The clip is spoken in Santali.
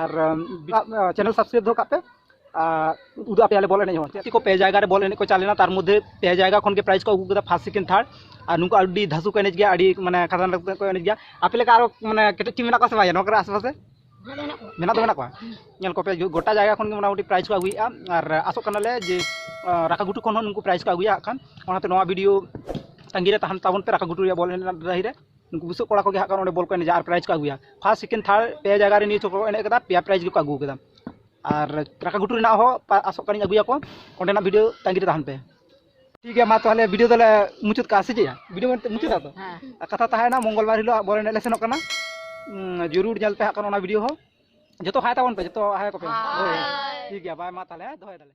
ᱟᱨ ᱪᱮᱱᱮᱞ ᱥᱟᱵᱥᱠᱨᱟᱭᱤᱵ ᱫᱚᱦᱚ ᱠᱟᱜ ᱯᱮ ᱩᱫᱩᱜ ᱟᱯᱮᱭᱟᱞᱮ ᱵᱚᱞ ᱮᱱᱮᱡ ᱦᱚᱸ ᱪᱮᱫ ᱠᱚ ᱯᱮ ᱡᱟᱭᱜᱟ ᱨᱮ ᱵᱚᱞ ᱮᱱᱮᱡ ᱠᱚ ᱪᱟᱞᱟᱣ ᱞᱮᱱᱟ ᱛᱟᱨ ᱢᱚᱫᱽᱫᱷᱮ ᱯᱮ ᱡᱟᱭᱜᱟ ᱠᱷᱚᱱ ᱜᱮ ᱯᱨᱟᱭᱤᱡᱽ ᱠᱚ ᱟᱹᱜᱩ ᱠᱮᱫᱟ ᱯᱷᱟᱨᱥᱴ ᱥᱮᱠᱮᱱᱰ ᱛᱷᱟᱨᱰ ᱟᱨ ᱱᱩᱠᱩ ᱟᱹᱰᱤ ᱫᱷᱟᱥᱩ ᱠᱚ ᱮᱱᱮᱡ ᱜᱮᱭᱟ ᱟᱹᱰᱤ ᱢᱟᱱᱮ ᱠᱷᱟᱛᱟᱨᱱᱟᱠ ᱠᱚ ᱮᱱᱮᱡ ᱜᱮᱭᱟ ᱟᱯᱮ ᱞᱮᱠᱟ ᱟᱨᱚ ᱢᱟᱱᱮ ᱠᱮᱴᱮᱡ ᱴᱤᱢ ᱢᱮᱱᱟᱜ ᱠᱚᱣᱟ ᱥᱮ ᱵᱟᱝ ᱱᱚᱣᱟ ᱠᱚᱨᱮ ᱟᱥᱮᱯᱟᱥᱮ ᱢᱮᱱᱟᱜ ᱫᱚ ᱢᱮᱱᱟᱜ ᱠᱚᱣᱟ ᱧᱮᱞ ᱠᱚᱯᱮ ᱜᱚᱴᱟ ᱡᱟᱭᱜᱟ ᱠᱷᱚᱱ ᱜᱮ ᱢᱚᱴᱟᱢᱩᱴᱤ ᱯᱨᱟᱭᱤᱡᱽ ᱠᱚ ᱟᱹᱜᱩᱭᱮᱫᱼᱟ ᱟᱨ ᱟᱥᱚᱜ ᱠᱟᱱᱟᱞᱮ ᱡᱮ ᱨᱟᱠᱟ ᱜᱷᱩᱴᱩ ᱠᱷᱚᱱ ᱦᱚᱸ ᱱᱩᱠᱩ ᱯᱨᱟᱭᱤᱡᱽ ᱠᱚ ᱟᱹᱜᱩᱭᱟ ᱦᱟᱸᱜ ᱠᱷᱟᱱ ᱚᱱᱟᱛᱮ ᱱᱚᱣᱟ ᱵᱷᱤᱰᱤᱭᱳ ᱛᱟᱺᱜᱤ ᱨᱮ ᱛᱟᱦᱮᱱ ᱛᱟᱵᱚᱱ ᱯᱮ ᱨᱟᱠᱟ ᱜᱷᱩᱴᱩ ᱨᱮᱭᱟᱜ ᱵᱚᱞ ᱮᱱᱮᱡ ᱨᱮᱱᱟᱜ ᱰᱟᱹᱦᱤ ᱨᱮ ᱱᱩᱠᱩ ᱵᱩᱥᱟᱹᱜ ᱠᱚᱲᱟ ᱠᱚᱜᱮ ᱦᱟᱸᱜ ᱠᱟᱱ ᱚᱸᱰᱮ ᱵᱚᱞ ᱠᱚ ᱮᱱᱮᱡᱟ ᱟᱨ ᱯᱨᱟᱭᱤᱡᱽ ᱠᱚ ᱟᱹᱜᱩᱭᱟ ᱯᱷᱟᱥᱴ ᱥᱮᱠᱮᱱᱰ ᱛᱷᱟᱨᱰ ᱯᱮ ᱡᱟᱭᱜᱟ ᱨᱮ ᱱᱤᱭᱟᱹ ᱪᱷᱚᱠ ᱠᱚ ᱮᱱᱮᱡ ᱠᱟᱫᱟ ᱯᱮᱭᱟ ᱯᱨᱟᱭᱤᱡᱽ ᱜᱮᱠᱚ ᱟᱹᱜᱩ ᱠᱟᱫᱟ ᱟᱨ ᱨᱟᱠᱟ ᱜᱷᱩᱴᱩ ᱨᱮᱱᱟᱜ ᱦᱚᱸ ᱟᱥᱚᱜ ᱠᱟᱹᱱᱟᱹᱧ ᱟᱹᱜᱩᱭᱟᱠᱚ ᱚᱸᱰᱮᱱᱟᱜ ᱵᱷᱤᱰᱤᱭᱳ ᱛᱟᱺᱜᱤ ᱨᱮ ᱛᱟᱦᱮᱱ ᱯᱮ ᱴᱷᱤᱠ ᱜᱮᱭᱟ ᱢᱟ ᱛᱟᱦᱚᱞᱮ ᱵᱷᱤᱰᱤᱭᱳ ᱫᱚᱞᱮ ᱢᱩᱪᱟᱹᱫ ᱠᱟᱜᱼᱟ ᱥᱮ ᱪᱮᱫ ᱵᱷᱤᱰᱤᱭᱳ ᱢᱩᱪᱟᱹᱫᱟ ᱛᱚ ᱠᱟᱛᱷᱟ ᱛᱟᱦᱮᱸᱭᱮᱱᱟ ᱢᱚᱝᱜᱚᱞ ᱵᱟᱨ ᱦᱤᱞᱳᱜ ᱵᱚᱞ ᱮᱱᱮᱡ ᱞᱮ ᱥᱮᱱᱚᱜ ᱠᱟᱱᱟ ᱡᱩᱨᱩᱨ ᱧᱮᱞ ᱯᱮ ᱦᱟᱸᱜ ᱠᱟᱱ ᱚᱱᱟ ᱵᱷᱤᱰᱤᱭᱳ ᱦᱚᱸ ᱡᱚᱛᱚ ᱦᱟᱭ ᱛᱟᱵᱚᱱ ᱯᱮ ᱡᱚᱛᱚ ᱦᱟᱭ ᱠᱚᱯᱮ ᱴᱷᱤᱠ ᱜᱮᱭᱟ ᱵᱟᱭ ᱢᱟ ᱛᱟᱦᱚᱞᱮ ᱫᱚᱦᱚᱭ ᱫᱟᱞᱮ